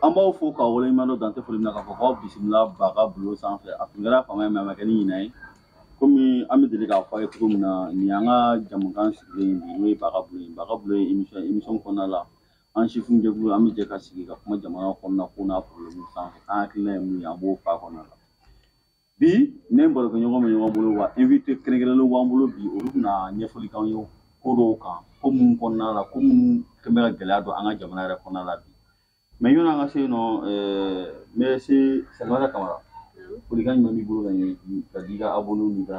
an b'aw fo k'aw waleɲuman dɔn dan tɛ foli min na k'a fɔ k'aw bisimila baga bulon sanfɛ a tun kɛra fama ye mɛ a ma kɛ ni ɲina ye komi an bɛ deli k'a fɔ a ye cogo min na nin y'an ka jamukan sigilen bi n'o ye baga bulon ye baga bulon ye emission kɔnɔna la An sifin jɛkulu an bɛ jɛ ka sigi ka kuma jamana kɔnɔna ko n'a problème sanfɛ an hakilila ye mun ye an b'o f'a kɔnɔna la bi ne barokɛ ɲɔgɔn bɛ ɲɔgɔn bolo wa invite kɛrɛnkɛrɛnlenw b'an bolo bi olu bɛna ɲɛfɔli k'an ye ko dɔw kan ko minnu kɔnɔna la ko minnu kɛn bɛ ka gɛlɛya don an ka jamana yɛrɛ kɔnɔna la bi mɛ yanni an ka se yen nɔ n bɛ se salimata kamara folikan jumɛn b'i bolo ka ɲɛ ka di i ka abonnés n'i ka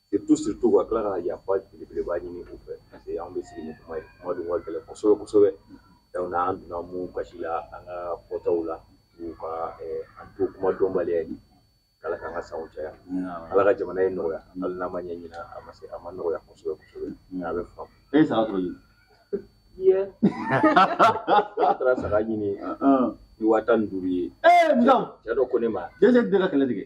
Surtout surtout ka tila ka yafa belebeleba ɲini u fɛ parce que anw bɛ sigi ni kuma ye kuma dun ka gɛlɛn kosɛbɛ kosɛbɛ donc n'an donna min gasi la an ka fɔtaw la u ka an to kuma dɔnbaliya ye Ala k'an ka sanw caya Ala ka jamana in nɔgɔya hali n'a ma ɲɛ ɲinan a ma se a ma nɔgɔya kosɛbɛ kosɛbɛ mais a bɛ faamu e ye saga sɔrɔ ɲinan ye a taara saga ɲini ni waa tan ni duuru ye cɛ dɔ ko ne ma dɛsɛ bɛ ka kɛlɛ tigɛ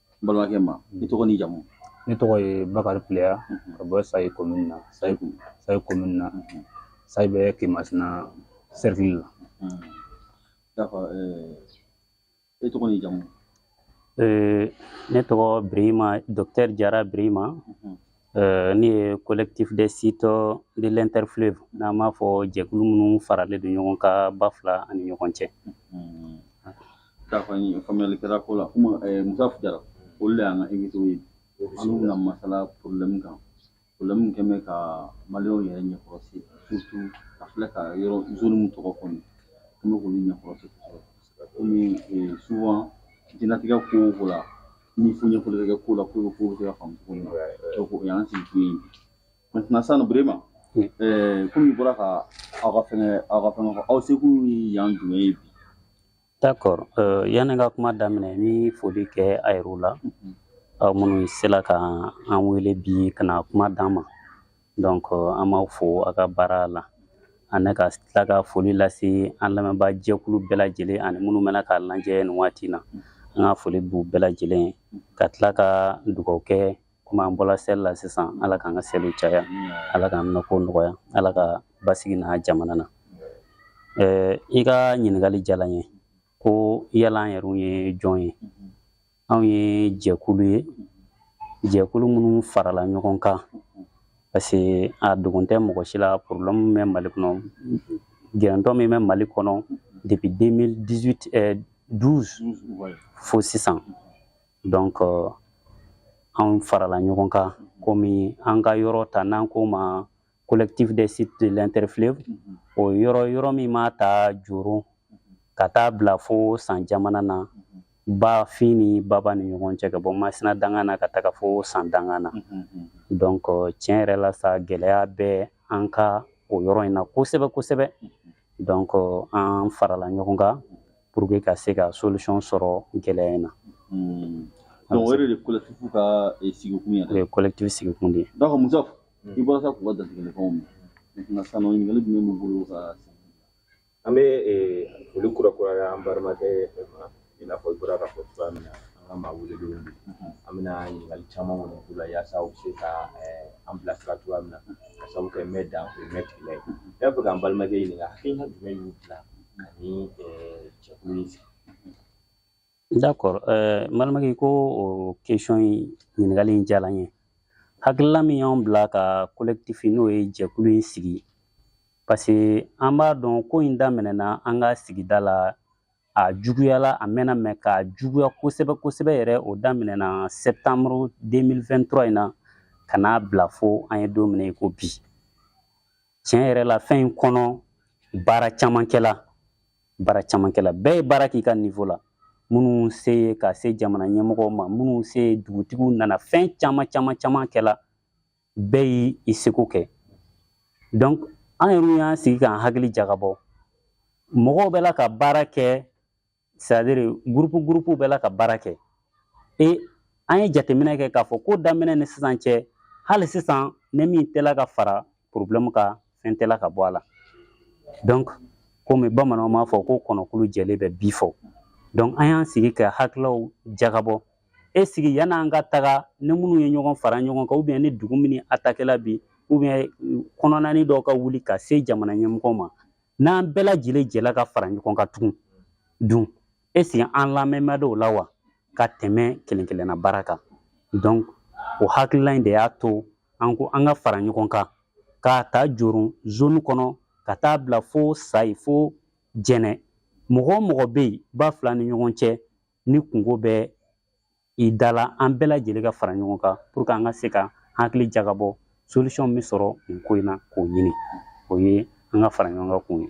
n balimakɛ ma i tɔgɔ ni jamu ne tɔgɔ ye bakari pileya ka bɔ sayi komini na sayi sayi komini na sayi bɛ kemasina sɛrikili la d'accord e tɔgɔ ni jamu ne tɔgɔ birima dɔkitɛri jara birima Euh, ne ye collectif des sites de l'interfleuve n'an b'a fɔ jɛkulu minnu faralen don ɲɔgɔn kan ba fila ani ɲɔgɔn cɛ hmm. d'accord faamuyali kɛra ko la komi eh, musa jara olu de y'an ka invité ye an bɛna masala problème kan problème min kɛn bɛ ka maliyɛnw yɛrɛ ɲɛkɔrɔsi surtout ka filɛ ka yɔrɔ zone min tɔgɔ fɔ nin an bɛ k'olu ɲɛkɔrɔsi kosɛbɛ komi eh, souvent diɲɛlatigɛ ko o ko la ni fo ɲɛfɔli bɛ kɛ ko la ko ko bɛ se ka faamu cogo min na donc o y'an sigi kun ye bi maintenant sisan nɔ Birima komi i bɔra ka aw ka fɛngɛ aw ka fɛngɛ fɔ aw se kun ye yan jumɛn ye bi d'accord yanni n ka kuma daminɛ n bɛ foli kɛ a yɛrɛw la aw minnu sela ka an wele bi ka na kuma d'an ma donc an b'aw fo a ka baara la ani ka tila ka foli lase an lamɛnbaa jɛkulu bɛɛ lajɛlen ani minnu bɛ na k'a lajɛ nin waati na an ka foli b'u bɛɛ lajɛlen ka tila ka dugawu kɛ komi an bɔla seli la sisan ala k'an ka seliw caya ala k'an minɛko nɔgɔya ala ka basigi na jamana na i ka ɲininkali diyala n ye ko yala an yɛrɛw ye jɔn ye anw ye jɛkulu ye jɛkulu minnu farala ɲɔgɔn kan parce que a dogon tɛ mɔgɔ si la problème bɛ mali kɔnɔ gɛrɛntɔ min bɛ mali kɔnɔ depuis 2018 euh, 12 fo sisan donc euh, anw farala ɲɔgɔn kan komi an ka yɔrɔ ta n'an k'o ma collectif des sites de l'interfleuve o yɔrɔ yɔrɔ min m'a ta joro ka taa bila fo san jamana na ba fin ni baba ni ɲɔgɔn cɛ ka bɔ masina danga na ka taga fo san danga na donc tiɲɛ yɛrɛ la sa gɛlɛya bɛ an ka o yɔrɔ in na kosɛbɛ kosɛbɛ donc an farala ɲɔgɔn kan pour que ka se ka solution sɔrɔ gɛlɛya in na donc o yɛrɛ de collectif ka sigikun ye o ye collectif sigikun de ye donc musa i bɔra sa k'u ka dantigɛlikanw mɛn maintenant sisan nɔ ɲininkali jumɛn b'u bolo ka an bɛ foli kurakuraya an balimakɛ ma i n'a fɔ i bɔra k'a fɔ cogoya min na an ka maa welelenw bi an bɛna ɲininkali caman kɔni k'u la yaasa u bɛ se ka an bilasira cogoya min na ka sabu kɛ mɛ dan o ye mɛ tigi la ye ne b'a fɛ k'an balimakɛ ɲininka hakilina jumɛn y'u bila ka nin jɛkulu in sigi D'accord ɛɛ n balimakɛ ko o question in ɲininkali in diyara n ye hakilila min y'anw bila ka collectif n'o ye jɛkulu in sigi parce que an b'a dɔn ko in daminɛna an ka sigida la a juguyala a mɛnna mais k'a juguya kosɛbɛ kosɛbɛ yɛrɛ o daminɛna septembre 2023 in na ka n'a bila fo an ye don min na i ko bi tiɲɛ yɛrɛ la fɛn in kɔnɔ baara caman kɛla baara caman kɛla bɛɛ ye baara k'i ka nivo la minnu se ye ka se jamana ɲɛmɔgɔw ma minnu se ye dugutigiw nana fɛn caman caman caman kɛla bɛɛ y'i i seko kɛ donc an yɛrɛ y'an sigi k'an hakili jagabɔ mɔgɔw bɛ la ka baara kɛ c'est à dire gurupu gurupuw bɛ la ka baara kɛ e an ye jateminɛ kɛ k'a fɔ ko daminɛ ni sisan cɛ hali sisan ni min tɛ la ka fara porobilɛmu kan fɛn tɛ la ka bɔ a la dɔnk komi bamananw b'a fɔ ko kɔnɔkulu jɛlen bɛ bii fɔ dɔnk an y'an sigi ka hakililaw jagabɔ ɛsiki yann'an ka taga ni minnu ye ɲɔgɔn fara ɲɔgɔn kan ubiyɛn ni dugu min ni atakɛla bi ubiyɛn kɔnɔnani dɔw ka wuli ka se jamana ɲɛmɔgɔw ma n'an bɛɛ lajɛlen jɛla ka fara ɲɔgɔn kan tugun dun ɛsiki an lamɛnma dɔw la wa ka tɛmɛ kelen kelenna baara kan dɔnk o hakilila in de y'a to an ko an ka fara ɲɔgɔn kan k'a ta joro zone kɔnɔ ka taa bila fo sayi fo jɛnɛ mɔgɔ o mɔgɔ bɛ yen ba fila ni ɲɔgɔn cɛ ni kunko bɛ i da la an bɛɛ lajɛlen ka fara ɲɔgɔn kan puruke an ka se ka hakili jagabɔ solution min bɛ sɔrɔ nin ko in na k'o ɲini o ye an ka fara ɲɔgɔn kan kun ye.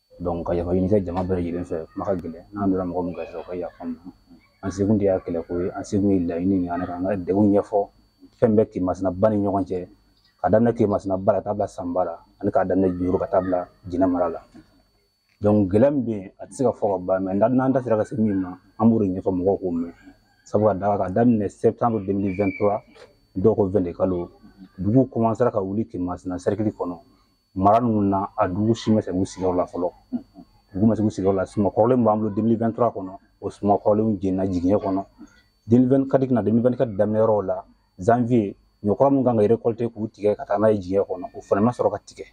ka yafa ɲini kɛ jama bɛɛ lajɛlen fɛ kuma ka gɛlɛn n'an donna mɔgɔ min gasi rɔ o ka yafa an sekun tɛ yan kɛlɛ ko ye an sekun ye laɲini min an ka degun ɲɛfɔ fɛn bɛɛ kemasina ba ni ɲɔgɔn cɛ ka daminɛ kemasina ba la ka taa bila san ba la ani k'a daminɛ juru ka taa bila jɛnɛ mara la gɛlɛya min bɛ yen a tɛ se ka fɔ ka ban mais n'an da sera ka se min ma an b'o de ɲɛfɔ mɔgɔw k'o mɛn sabu ka d'a kan ka daminɛ septembre 2023 dɔw ko vɛnde kalo dugu commencera ka wuli kemasina sɛrikili kɔnɔ mara ninnu na a dugu si ma segin u sigiyɔrɔ la fɔlɔ dugu ma segin u sigiyɔrɔ la suma kɔrɔlen b'an bolo 2023 kɔnɔ o suma kɔrɔlenw jenina jigiɲɛ kɔnɔ 2024 na 2024 daminɛ yɔrɔw la janvier ɲɔ kura min kan ka récolter k'u tigɛ ka taa n'a ye jigiɲɛ kɔnɔ o fana ma sɔrɔ ka tigɛ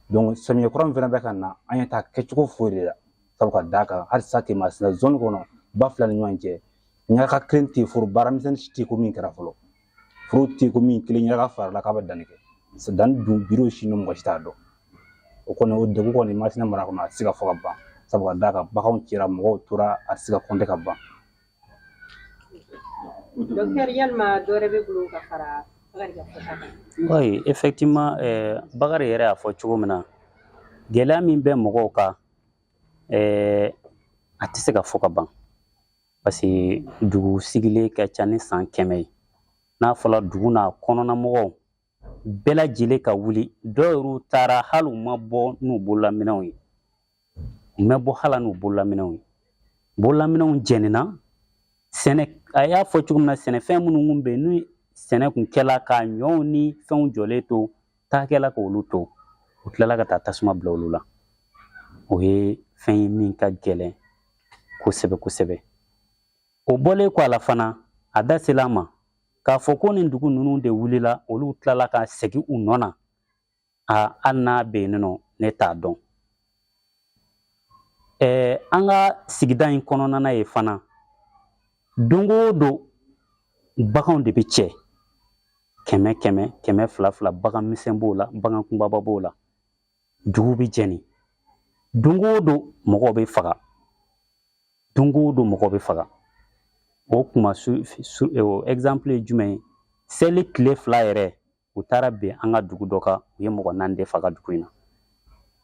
donc samiyɛ kura min fana bɛ ka na an ɲɛ t'a kɛcogo foyi de la sabu ka d'a kan halisa kemasina zone kɔnɔ ba fila ni ɲɔgɔn cɛ ɲaga kelen tɛ foro baaramisɛnnin si tɛ ko min kɛra fɔlɔ foro tɛ ko min kelen yɛrɛ ka fara la k'a bɛ danni kɛ danni dun bi o sini mɔgɔ si t'a dɔn o kɔni o degun kɔni masina mara kɔnɔ a tɛ se ka fɔ ka ban sabu ka d'a kan baganw cɛra mɔgɔw tora a tɛ se ka kɔnte ka ban dɔkitɛri yalima dɔ wɛrɛ b'i bolo ka fara bakari ka fɔta kan oui effectivement eh, bakari yɛrɛ y'a fɔ cogo min na gɛlɛya min bɛ mɔgɔw kan eh, a tɛ se ka fɔ ka ban Parce que dugu sigilen ka ca ni san kɛmɛ ye n'a fɔra dugu n'a kɔnɔna mɔgɔw bɛɛ lajɛlen ka wuli dɔw yɛrɛ taara hali u ma bɔ n'u bololaminɛnw ye u ma bɔ hali n'u bololaminɛnw ye bololaminɛnw jenina sɛnɛ a y'a fɔ cogo min na sɛnɛfɛn minnu kun bɛ yen ni sɛnɛ kun kɛla ka ɲɔw ni fɛnw jɔlen to taa kɛla k'olu to u tilala ka taa tasuma bila olu la o ye fɛn ye min ka gɛlɛn kosɛbɛ kosɛbɛ o bɔlen kɔ a la fana a da sela a ma k'a fɔ ko nin dugu ninnu de wulila olu tilala ka segin u nɔ na a hali n'a bɛ yen nɔ ne t'a dɔn Ɛɛ an ka sigida in kɔnɔna na yen fana don o don baganw de bɛ cɛ kɛmɛ kɛmɛ kɛmɛ fila fila bagan misɛn b'o la bagan kunbaba b'o la dugu bɛ jeni don o don mɔgɔw bɛ faga don o don mɔgɔ bɛ faga o kuma su su ɛzanpile ye jumɛn ye seli tile fila yɛrɛ u taara bin an ka dugu dɔ kan u ye mɔgɔ naani de faga dugu in na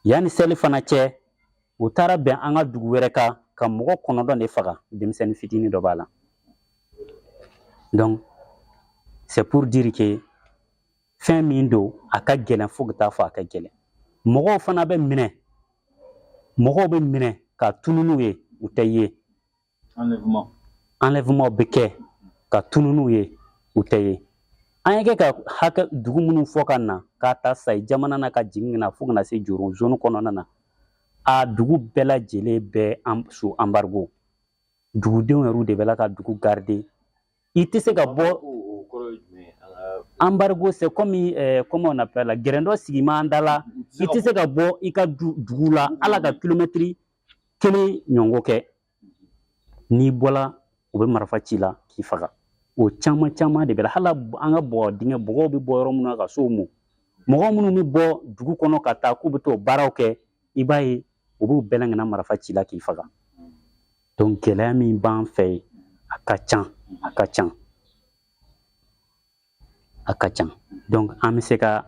yanni seli fana cɛ u taara bin an ka dugu wɛrɛ kan ka mɔgɔ kɔnɔntɔn de faga denmisɛnnin fitinin dɔ b'a la donc c'est pour dire que fɛn min don a ka gɛlɛn fo ka taa fɔ a ka gɛlɛn mɔgɔw fana bɛ minɛ mɔgɔw bɛ minɛ ka tunun n'u ye u tɛ ye enlèvement bɛ kɛ ka tunun n'u ye u tɛ ye an ye kɛ ka hakɛ dugu minnu fɔ ka na k'a ta sayi jamana na ka jigin ka na fo ka na se joro zone kɔnɔna na a dugu bɛɛ lajɛlen bɛ sous embargo dugudenw yɛrɛw de bɛ la ka dugu garder i tɛ se ka bɔ embargo c'est comme comment on appelle là gɛrɛn dɔ sigi man da la i tɛ se ka bɔ i ka dugu la hali ka kilomɛtiri kelen ɲɔgɔn kɛ n'i bɔla u bɛ marifa ci i la k'i faga o caman caman de bɛ la hali an ka bɔgɔ dingɛ bɔgɔw bɛ bɔ yɔrɔ minnu na ka sow mɔ mɔgɔ minnu bɛ bɔ dugu kɔnɔ ka taa k'u bɛ t'o baaraw kɛ i b'a ye u b'u bɛɛ la ka na marifa ci i la k'i faga donc gɛlɛya min b'an fɛ yen a ka can a ka can a ka can donc an bɛ se ka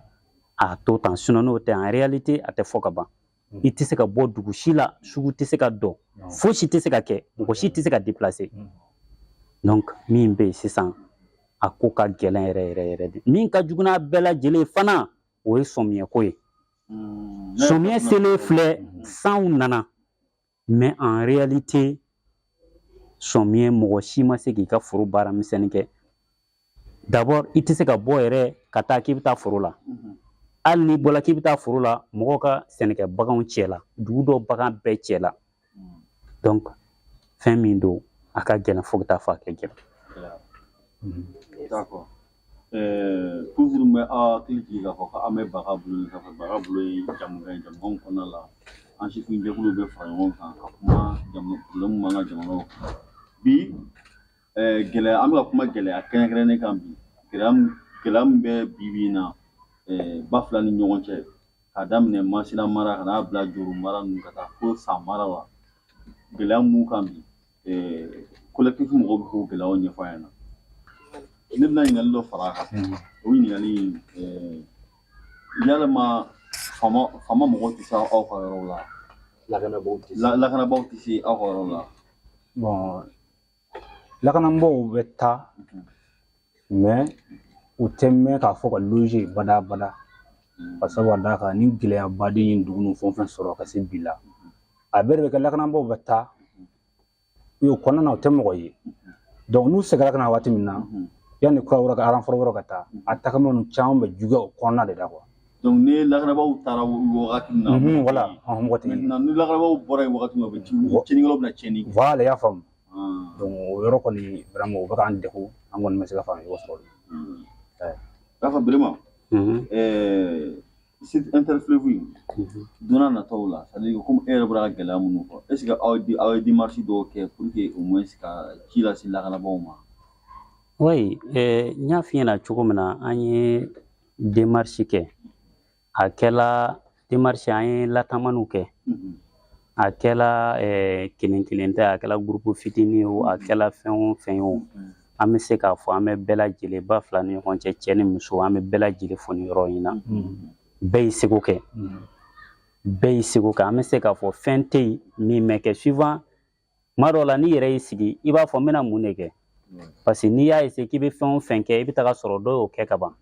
a to tan sinon n'o tɛ en réalité a tɛ fɔ ka ban Mm. i tɛ se ka bɔ dugu si la sugu tɛ se ka dɔ fosi tɛ se ka kɛ mɔgɔ si tɛ se ka déplacer mm. donc min bɛ yen sisan a ko ka gɛlɛn yɛrɛ yɛrɛ yɛrɛ de min ka jugu n'a bɛɛ lajɛlen fana o ye sɔmiyɛko ye mm. sɔmiyɛ selen filɛ sanw nana mais en réalité sɔmiyɛ mɔgɔ si ma se k'i ka foro baara misɛnnin kɛ d'abord i tɛ se ka bɔ yɛrɛ ka taa k'i bɛ taa foro la mhm. hali n'i bɔla k'i bɛ taa foro la mɔgɔw ka sɛnɛkɛ baganw cɛla dugu dɔ bagan bɛɛ cɛla donc fɛn min don a ka gɛlɛn fo ka taa fɔ a ka gɛlɛn Ɛɛ toujours n bɛ hakili jigin k'a fɔ ko an bɛ baga bolo ka baga bolo ye jɛmu ye jɛmu kɔnɔ la an sifin jɛkulu bɛ fara ɲɔgɔn kan ka kuma problème b'an ka jamana kan bi gɛlɛya an bɛ ka kuma gɛlɛya kɛrɛnkɛrɛnnen kan bi gɛlɛya min bɛ bi na ba fila ni ɲɔgɔn cɛ k'a daminɛ masina mara ka n'a bila joro mara ninnu ka taa fo san mara la gɛlɛya min b'u kan bi collectif mɔgɔw bɛ k'o gɛlɛyaw ɲɛfɔ an ɲɛna ne bɛna ɲininkali dɔ fara a kan o ɲininkali yalama FAMa mɔgɔw tɛ se aw ka yɔrɔw la lakanabaaw tɛ se aw ka yɔrɔw la bon lakanabaaw bɛ taa u tɛ mɛn k'a fɔ ka loger bada bada ka sabu ka d'a kan ni gɛlɛyaba de ye dugu ninnu fɛn o fɛn sɔrɔ ka se bi la a bɛɛ de bɛ kɛ lakanabaaw bɛ taa o kɔnɔna na u tɛ mɔgɔ ye n'u seginna ka na waati min na yanni kura wɛrɛ ka renfort wɛrɛ ka taa a tagama ninnu caman bɛ juguya o kɔnɔna de la donc ni lakanabaaw taara wagati min na voilà mɔgɔ tɛ ni lakanabaaw bɔra yen wagati min na u bɛ tiɲɛnikɛlaw bɛ na tiɲɛni kɛ voilà i y'a faamu o yɔrɔ kɔni vraiment o bɛ k'an degun an kɔni ma se ka faamuya sɔrɔ o la k'a fɔ vraiment site interfleuve in donna nataw la c'est à dire komi e yɛrɛ bɔra ka gɛlɛya minnu fɔ est ce que aw di aw ye démarche dɔw kɛ pour que au moins ka ci lase lakanabaaw ma oui n y'a f'i ɲɛna cogo min na an ye démarche kɛ a kɛla démarche an ye latamaniw kɛ a kɛla kelen kelen tɛ a kɛla groupe fitinin ye o a kɛla fɛn o fɛn ye o an bɛ se k'a fɔ an bɛ bɛɛ lajɛlen ba fila ni ɲɔgɔn cɛ cɛ ni muso an bɛ bɛɛ lajɛlen fo nin yɔrɔ in na bɛɛ y'i seko kɛ bɛɛ y'i seko kɛ an bɛ se k'a fɔ fɛn tɛ yen min ma kɛ souvent kuma dɔw la n'i yɛrɛ y'i sigi i b'a fɔ n bɛna mun de kɛ parce que n'i y'a essayer k'i bɛ fɛn o fɛn kɛ i bɛ taga sɔrɔ dɔw y'o kɛ ka ban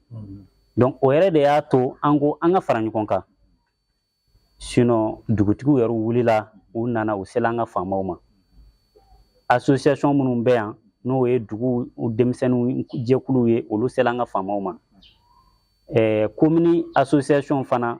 donc o yɛrɛ de y'a to an ko an ka fara ɲɔgɔn kan sinon dugutigiw yɛrɛ wulila u nana u sela an ka faamaw ma association minnu bɛ yan n'o ye dugu denmisɛnninw jɛkuluw ye olu sela an ka faamaw ma ɛɛ komini association fana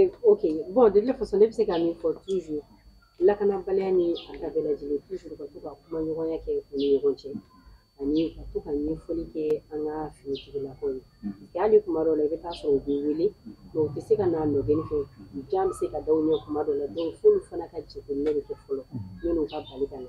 Eh, ok bon de toute façon ne bɛ se ka min fɔ toujours lakanabaliya ni a ta bɛɛ lajɛlen toujours ka to ka kuma ɲɔgɔnya kɛ u ni ɲɔgɔn cɛ ani ka to ka ɲɛfɔli kɛ an ka finitigilakaw ye parce que hali kuma dɔw la i bɛ taa sɔrɔ u bɛ wele mais u tɛ se ka n'a nɔgɔni fɛ jan bɛ se ka da u ɲɛ kuma dɔw la donc f'olu fana ka jateminɛ de kɛ fɔlɔ yanni u ka bali ka na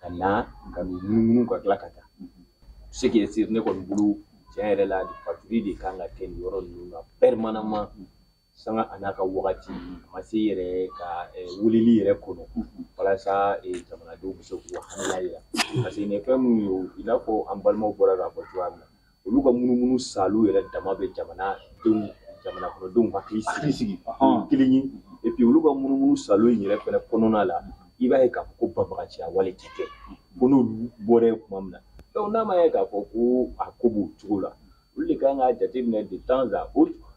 ka na ka n'u munumunu ka tila ka taa ce qui est sûr ne kɔni bolo tiɲɛ yɛrɛ la patrouille de kan ka kɛ nin yɔrɔ ninnu na permanemment sanga a n'a ka wagati a ma se yɛrɛ ka wulili yɛrɛ kɔnɔ walasa jamanadenw bɛ se k'u hakilila yira parce que nin ye fɛn minnu ye i n'a fɔ an balimaw bɔra k'a fɔ cogoya min na olu ka munumunu saalo yɛrɛ dama bɛ jamanadenw jamana kɔnɔdenw hakili sigi sigi kelen ye et puis olu ka munumunu saalo in yɛrɛ fɛnɛ kɔnɔna la i b'a ye k'a fɔ ko banbagaciya wale tɛ kɛ ko n'olu bɔra yen tuma min na donc n'a ma ye k'a fɔ ko a ko b'o cogo la olu de kan k'a jateminɛ de temps à autre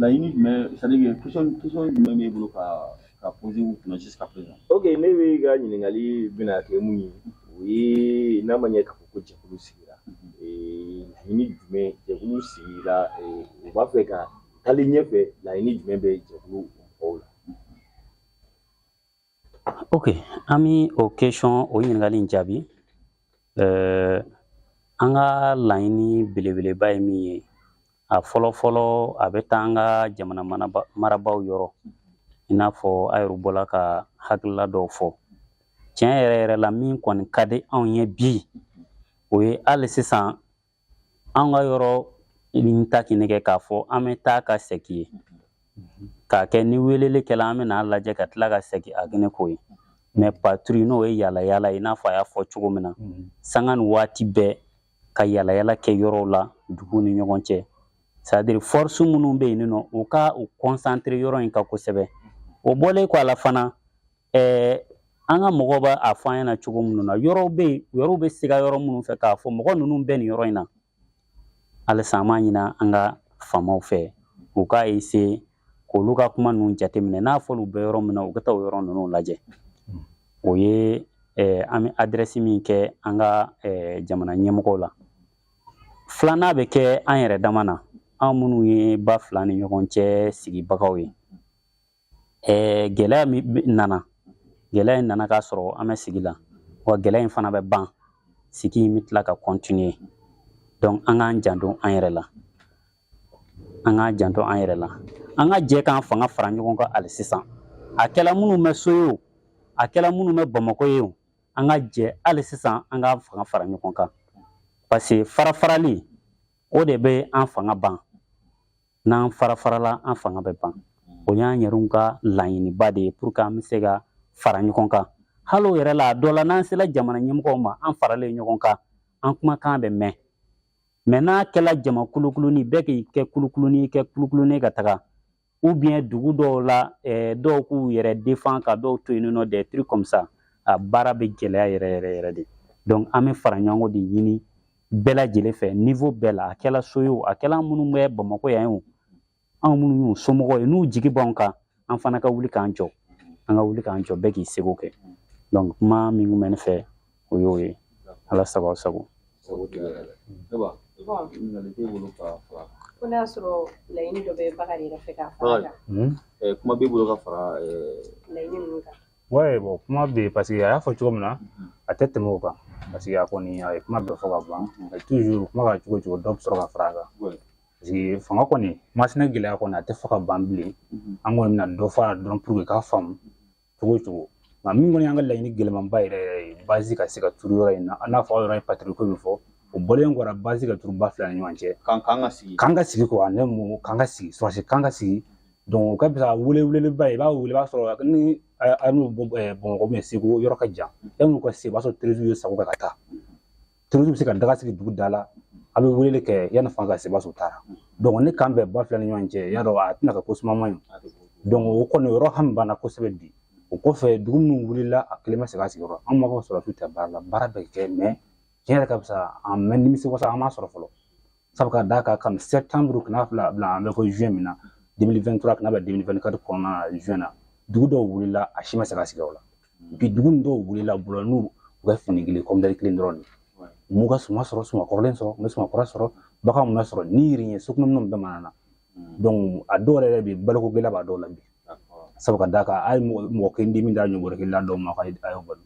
laɲini jumɛn c'est à dire que question jumɛn b'e bolo ka ka poser u kunna jusqu'à présent ok ne bɛ ka ɲininkali bɛna kɛ min ye o ye n'a ma ye k'a fɔ ko jɛkulu sigira laɲini jumɛn jɛkulu sigira u b'a fɛ ka taali ɲɛfɛ laɲini jumɛn bɛ jɛkulu mɔgɔw la ok an bɛ o question o ɲininkali in jaabi eh, an ka laɲini belebeleba ye min ye a fɔlɔ fɔlɔ a bɛ taa an ka jamana marabaaw yɔrɔ i n'a fɔ a yɛrɛ bɔla ka hakilila dɔw fɔ tiɲɛ yɛrɛ yɛrɛ la min kɔni ka di anw ye bi o ye hali sisan an ka yɔrɔ nin ta k'i nɛgɛ k'a fɔ an bɛ taa ka sɛki ye k'a kɛ ni weleli kɛla an bɛna a lajɛ ka tila ka sɛki a kɛnɛ ko ye mais patrouille n'o ye yala yala i n'a fɔ a y'a fɔ cogo min na sanga ni waati bɛɛ ka yala yala kɛ yɔrɔw la dugu ni ɲɔgɔn cɛ c'est-à-dire force minnu bɛ yen nɔ u ka u concentrer yɔrɔ in kan kosɛbɛ o bɔlen kɔ a la fana ɛɛ an ka mɔgɔw b'a fɔ an ɲɛna cogo minnu na yɔrɔw bɛ yen yɔrɔw bɛ siga yɔrɔ minnu fɛ k'a fɔ mɔgɔ ninnu bɛ nin yɔrɔ in na halisa an b'a ɲini an ka faamaw fɛ u k'a essayer k'olu ka kuma ninnu jateminɛ n'a fɔra u bɛ yɔrɔ min na u ka taa o yɔrɔ ninnu lajɛ o ye eh, an bɛ adresse min kɛ an ka eh, jamana ɲɛmɔgɔw la filanan bɛ kɛ an yɛrɛ dama na an minnu ye ba fila ni ɲɔgɔn cɛ sigibagaw ye Ɛɛ gɛlɛya min nana gɛlɛya in nana k'a sɔrɔ an bɛ sigi la wa gɛlɛya in fana bɛ ban sigi in bɛ tila ka continuer donc an k'an janto an yɛrɛ la an k'an janto an yɛrɛ la an ka jɛ k'an fanga fara ɲɔgɔn kan hali sisan a kɛla minnu bɛ so ye o a kɛla minnu bɛ bamakɔ ye o an ka jɛ hali sisan an k'an fanga fara ɲɔgɔn kan parce que farafarali o de bɛ an fanga ban n'an farafarala an fanga bɛ ban o y'an yɛrɛw ka laɲiniba de ye pour que an bɛ se ka fara ɲɔgɔn kan hali o yɛrɛ la a dɔ la n'an sera jamana ɲɛmɔgɔw ma an faralen ɲɔgɔn kan an kumakan bɛ mɛn mais n'a kɛla jama kulukuluni bɛɛ k'i kɛ kulukuluni kɛ kulukuluni ka taga ou bien dugu dɔw la eh, dɔw k'u yɛrɛ défend ka dɔw to yen nɔ des trucs comme ça a baara bɛ gɛlɛya yɛrɛ yɛrɛ yɛrɛ de donc an bɛ fara ɲɔgɔn de ɲini bɛɛ lajɛlen fɛ niveau bɛɛ la a kɛla so ye o a kɛla minnu bɛ bamakɔ yan o anw minnu y'u somɔgɔw ye n'u jigi b'anw kan an fana ka wuli k'an jɔ an ka wuli k'an jɔ bɛɛ k'i seko kɛ donc kuma min kun bɛ ne fɛ o y'o ye ala sago aw sago ko n'a sɔrɔ laɲini dɔ bɛ Bakari yɛrɛ fɛ k'a fara kan kuma b'i bolo ka fara laɲini ninnu kan Ouais bon kuma be yen parce que a y'a fɔ cogo min na a tɛ tɛmɛ o kan parce que a kɔni a ye kuma bɛɛ fɔ ka ban toujours kuma ka cogo cogo dɔ bɛ sɔrɔ ka fara a kan parce que fanga kɔni Masina gɛlɛya kɔni a tɛ fɔ ka ban bilen an kɔni bɛna dɔ fara dɔrɔn pour que k'a faamu cogo cogo nka min kɔni y'an ka laɲini gɛlɛnmanba yɛrɛ yɛrɛ ye base ka se ka turu yɔrɔ in na i n'a fɔ aw yɛrɛ ye patrouille ko min fɔ o bɔlen kɔ rɔ base ka turu ba fila ni ɲɔgɔn cɛ k'an ka sigi k'an ka sigi k'an ka sigi kɔrɔsi k'an ka sigi o ka fisa wele weleba ye i b'a wele i b'a sɔrɔ ni an n'u bamakɔ bɛ segu yɔrɔ ka jan yan'u ka se i b'a sɔrɔ terroristes y'u sago kɛ ka taa terroristes bɛ se ka daga sigi dugu da la a bɛ weleli kɛ yanni fanga ka se i b'a sɔrɔ u taara ne kan bɛ ba fila ni ɲɔgɔn cɛ y'a dɔn a tɛna kɛ ko suma man ɲi o kɔni o yɔrɔ hami banna kosɛbɛ bi o kɔfɛ dugu minnu wulila a kelen ma segin a sigiyɔrɔ an m'a fɔ sɔrɔdasiw tɛ baara la baara bɛ kɛ tiɲɛ yɛrɛ ka fisa an mɛ nimisi wasa an m'a sɔrɔ fɔlɔ sabu ka d'a kan kabini septembre ka na fila bila an bɛ ko juin min na 2023 ka na bɛ 2024 kɔnɔna na juin na dugu dɔw wulila a si ma segin a sigiyɔrɔ la bi dugu nin dɔw wulila bolo n'u ka fini kelen kɔmdɛri kelen dɔrɔn de m'u ka suma sɔrɔ suma kɔrɔlen sɔrɔ u ma suma kura sɔrɔ bagan u m'u bɛɛ sɔrɔ ni yiri ye sokɔnɔ minɛn bɛɛ manana donc a dɔw yɛrɛ bɛ baloko gɛlɛya b'a dɔw la bi sabu ka d'a kan a ye mɔgɔ kelen di min da ɲɔ bɔrɛ kelen di dɔw ma k'a ye balo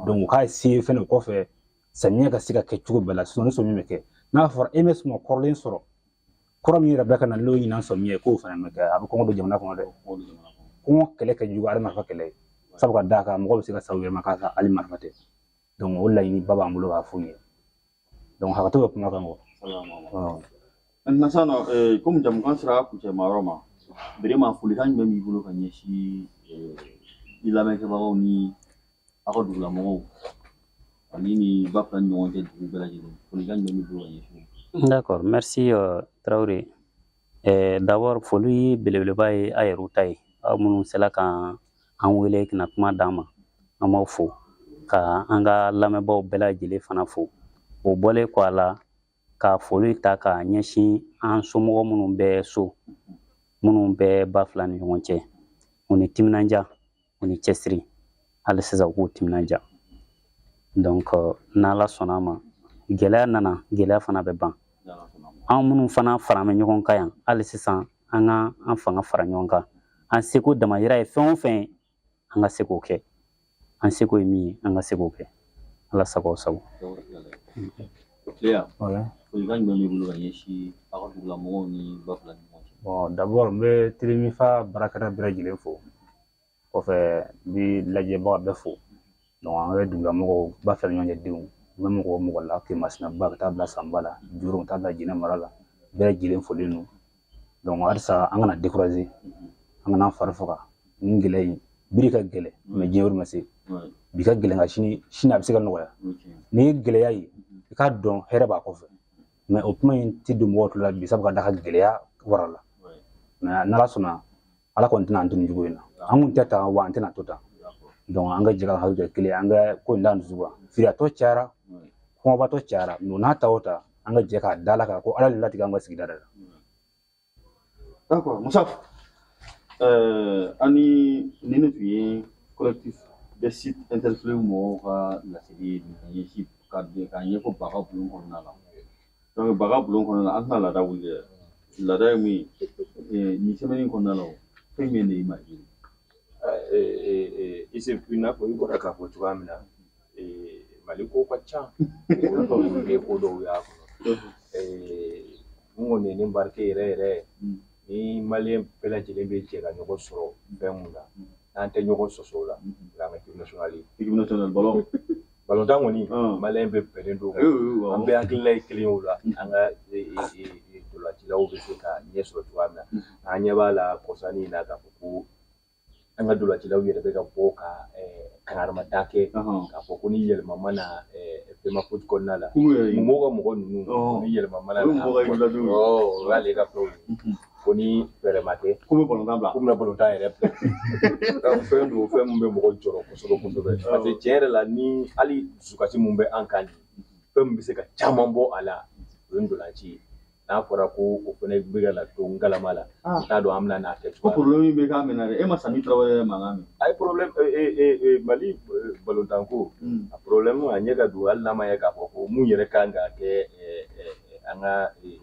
donc k'a se fɛnɛ o kɔfɛ samiya ka se ka kɛ cogo bɛɛ la sɔnni sɔmi bɛ kɛ n'a fɔra i ma suma kɔrɔlen sɔrɔ kura min yɛrɛ bɛ ka na n'o ɲinan sɔmi ye k'o fana bɛ kɛ a bɛ kɔngɔ don jamana kɔnɔ dɛ kɔngɔ kɛlɛ ka jugu hali marifa kɛlɛ ye sabu ka d'a kan mɔgɔ bɛ se ka sa a yɛrɛ ma k'a ka hali marifa tɛ o laɲini ba b'an bolo k'a f'u ye hakɛto bɛ kuma kan kɔ nasa na komi jɛmukan sera kuncɛma yɔrɔ ma vraiment folikan jumɛn b'i bolo ka ɲɛsin i lamɛnkɛbagaw ni aw ka dugulamɔgɔw ani ni ba fila ni ɲɔgɔn cɛ dugu bɛɛ lajɛlen folikan jumɛn b'i bolo ka ɲɛsin u ma? D'accord, merci euh, Traoré. Euh, D'abord, foli belebeleba ye a yɛrɛw ta ye. Aw minnu sela ka an wele ka na kuma d'an ma, an b'aw fo. Ka an ka lamɛnbaaw bɛɛ lajɛlen fana fo. O bɔlen kɔ a la, ka foli ta ka ɲɛsin an somɔgɔ minnu bɛ so, minnu bɛ ba fila ni ɲɔgɔn cɛ. U ni timinandiya. u ni cɛsiri hali sisan u k'u timinanja donc n'ala sɔnna a ma gɛlɛya nana gɛlɛya fana bɛ ban an minnu fana faralen bɛ ɲɔgɔn kan yan hali sisan an ka an fanga fara ɲɔgɔn kan an seko damayira ye fɛn o fɛn an ka se k'o kɛ an seko ye min ye an ka se k'o kɛ ala sago sago Clair. Wala. Folikan jumɛn b'i bolo ka ɲɛsin aw ka dugula mɔgɔw ni ba fila ni ɲɔgɔn cɛ? Bon d'abord n bɛ Telemifa baarakɛla bɛɛ lajɛlen fo. Kɔfɛ n bɛ lajɛbaga bɛɛ fo. Donc an bɛ dugula mɔgɔw ba fila ni ɲɔgɔn cɛ denw. N bɛ mɔgɔ mɔgɔ la Kemasinaba ka taa bila Sanba la, Joro ka taa bila Jinɛ mara la, bɛɛ lajɛlen folen don. donc halisa an kana décourager an kana fari faga nin gɛlɛya in bi de ka gɛlɛn mais diɲɛ yɛrɛ ma se bi ka gɛlɛn ka sini sini a bɛ se ka nɔgɔya n'i ye gɛlɛya ye i k'a dɔn hɛrɛ b'a kɔfɛ mais o kuma in tɛ don mɔgɔ tulo la bi sabu ka d'a kan gɛlɛya warala mais n'ala sɔnna ala kɔni tɛna an to nin cogo in na an kun tɛ tan wa an tɛna to tan donc an ka jɛ ka hakili kɛ kelen an ka ko in da dusu kan firiyatɔ cayara kɔngɔbatɔ cayara mais n'a ta o ta an ka jɛ k'a da ala kan ko ala de latigɛ an ka sigida de la d'accord musa euh, an ni ni ne tun ye collectif des sites interpellés mɔgɔw ka laseli ɲɛsin ka ɲɛfɔ baga bulon kɔnɔna la donc baga bulon kɔnɔna an tɛna laada wuli dɛ laada ye mun ye nin semaine kɔnɔna la fɛn min de y'i marqué i n'a fɔ i bɔra k'a fɔ cogoya min na mali ko ka ca ye ko dɔw y'a kɔnɔ min kɔni ye ne marqué yɛrɛ yɛrɛ ni maliyɛn bɛɛ lajɛlen bɛ jɛ ka ɲɔgɔn sɔrɔ fɛn min na n'an tɛ ɲɔgɔn sɔsɔ o la n'an ka équipe nationale équipe nationale balo balontan kɔni maliyɛn bɛɛ bɛnnen don an bɛɛ hakilina ye kelen o la an ka ntolancilaw bɛ se ka ɲɛ sɔrɔ cogoya min na an ɲɛ b'a la kɔsa in na k'a fɔ ko an ka ntolancilaw yɛrɛ bɛ ka bɔ ka kangarida kɛ k'a fɔ ko ni yɛlɛma ma na FEMAFOOT kɔnɔna la mɔgɔw ka mɔgɔ ninnu ni yɛlɛma ma na n'o y'ale ka fɛnw ye ko ni fɛɛrɛ ma kɛ k'u bɛ balontan bila k'u bɛna balontan yɛrɛ bila fɛn don fɛn min bɛ mɔgɔ jɔrɔ kosɛbɛ kosɛbɛ parce que tiɲɛ yɛrɛ la ni hali dusukasi min bɛ an kan fɛn min bɛ se ka caman bɔ a la o ye ntolanci ye n'a fɔra ko o fana bɛ ka na to n galama la ah. t'a dɔn an bɛn'a kɛ cogo ko problème bɛ ka mɛɛn dɛ e ma sami tarawele mankan mɛn a ye problème mali balontanko hmm. a problème a ɲɛ ka don hali n'a ma ye k'a fɔ ko mun yɛrɛ kan ka kɛ an ka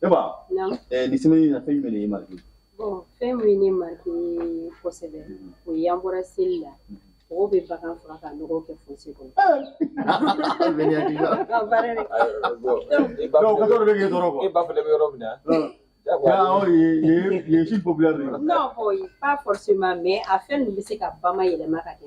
Ne ba nin semaine in na fɛn jumɛn y'i marqué fɛn min ye ne marqué kosɛbɛ o ye an bɔra seli la mɔgɔw bɛ bagan faga ka nɔgɔ kɛ fossé kɔnɔ c'est populaire non pas forcément mais a fɛn ninnu bɛ se ka bana yɛlɛma ka kɛ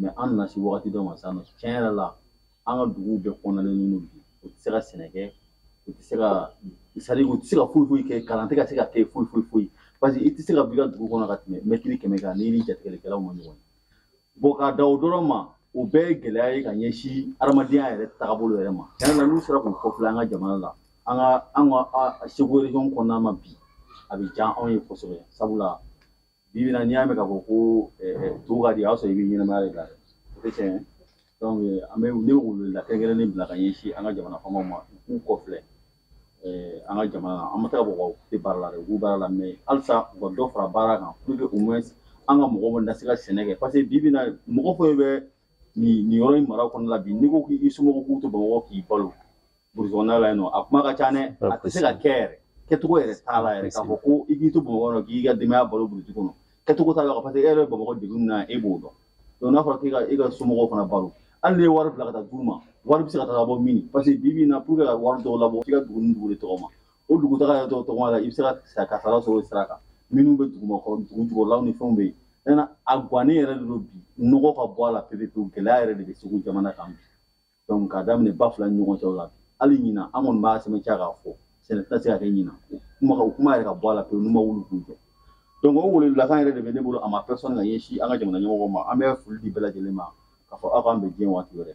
mais an nana se wagati dɔ ma sisan nɔ tiɲɛ yɛrɛ la an ka duguw bɛɛ kɔnɔnalen ninnu bi u tɛ se ka sɛnɛ kɛ u tɛ se ka sari u tɛ se ka foyi foyi kɛ kalan tɛ ka se ka kɛ foyi foyi foyi parce que i tɛ se ka b'i ka dugu kɔnɔ ka tɛmɛ mɛtiri kɛmɛ kan n'i ni jatigɛlikɛlaw ma ɲɔgɔn ye bon k'a da o dɔrɔn ma o bɛɛ ye gɛlɛya ye ka ɲɛsin adamadenya yɛrɛ tagabolo yɛrɛ ma tiɲɛ na n'u sera k'u kɔfilɛ an ka jamana la an ka an ka segu region kɔnɔna ma bi a bɛ diya anw ye kosɛbɛ sabula bi bi na n'i y'a mɛn k'a fɔ ko to ka di a y'a sɔrɔ i bɛ ɲɛnamaya de la dɛ o tɛ tiɲɛ ye an bɛ ne bɛ weleweleda kɛrɛnkɛrɛnnen bila ka ɲɛsin an ka jamana faamaw ma u k'u kɔfilɛ an ka jamana an ma taa bɔ u tɛ baara la dɛ u b'u baara la mais halisa u ka dɔ fara baara kan pour que au moins an ka mɔgɔw na se ka sɛnɛ kɛ parce que bi bi na mɔgɔ fɛn bɛ nin yɔrɔ in mara kɔnɔna la bi n'i ko k'i somɔgɔw k'u to bamakɔ k'i balo burusi kɔnɔna la yen nɔ a kuma ka ca dɛ a tɛ se ka kɛ yɛrɛ kɛcogo yɛrɛ t'a la yɛrɛ k'a fɔ ko i k'i to bamakɔ dɔn k'i ka denbaya balo burusi kɔnɔ kɛcogo t'a la parce que e yɛrɛ bɛ bamakɔ degun min na e b'o dɔn donc n'a fɔra k'i ka e ka somɔgɔw fana balo hali n'i ye wari bila ka taa d'u ma wari bɛ se ka taga bɔ min parce que bi bi in na pour que ka wari dɔw labɔ f'i ka dugu ni dugu de tɔgɔma o dugutaga yɛrɛ dɔw tɔgɔma la i bɛ se ka kasara sɔrɔ o sira kan minnu bɛ dugumakɔrɔ dugu jukɔrɔlaw ni fɛnw bɛ yen a gannen yɛrɛ de don bi nɔgɔ ka bɔ a la pepepewu gɛlɛya yɛrɛ de bɛ segu jamana kan bi donc k'a daminɛ ba fila ni ɲɔgɔn cɛw la hali ɲina an kɔni b'a sɛmɛntiya k'a fɔ sɛnɛ tɛna se ka kɛ ɲina o kuma yɛrɛ ka bɔ a la pewu n'u ma wuli k'u jɔ donc o weleweledakan yɛrɛ de bɛ ne bolo à ma personne ka ɲɛsin an ka jamana ɲɛmɔgɔw ma an bɛ foli di bɛɛ lajɛlen ma k'a fɔ aw k'an bɛn waati wɛrɛ